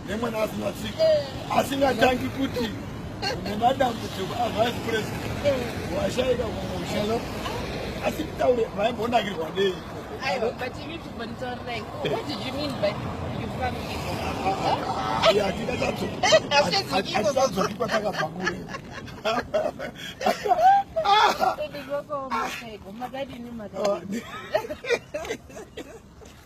nemwana asina tsika asingatangi kuti nemadambudziko avice president washaika kumusha asi kutaure vaimbonakirwa nei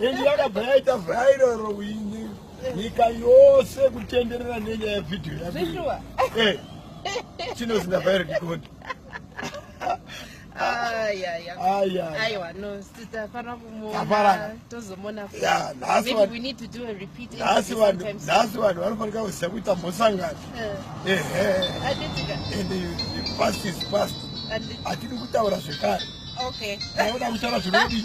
Endi yakabva yaita viral wini nyika yose kutenderera nenyaya yevideo yazvishuwa eh, chinozinda viral dikoni aiwa no titafanira kumuona tozomona nhasi vanhu vanofanika kuziva kuita mhosangano eh. and the past is past hatidi kutaura zvekare aoda kutaura zvinodii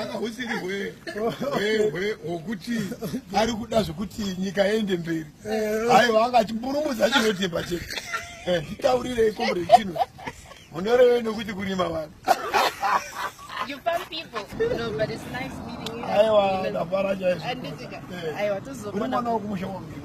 akahusiri hwe hwe hwe hwokuti ari kuda zvekuti nyika yende mberi aiwa anga achiburumudza chinotemba chete eh, nditaurirei komrade chino munorevei nokuti kurima vanhu aiwa ndafara chaizvo eh, uri mwana wokumusha wangu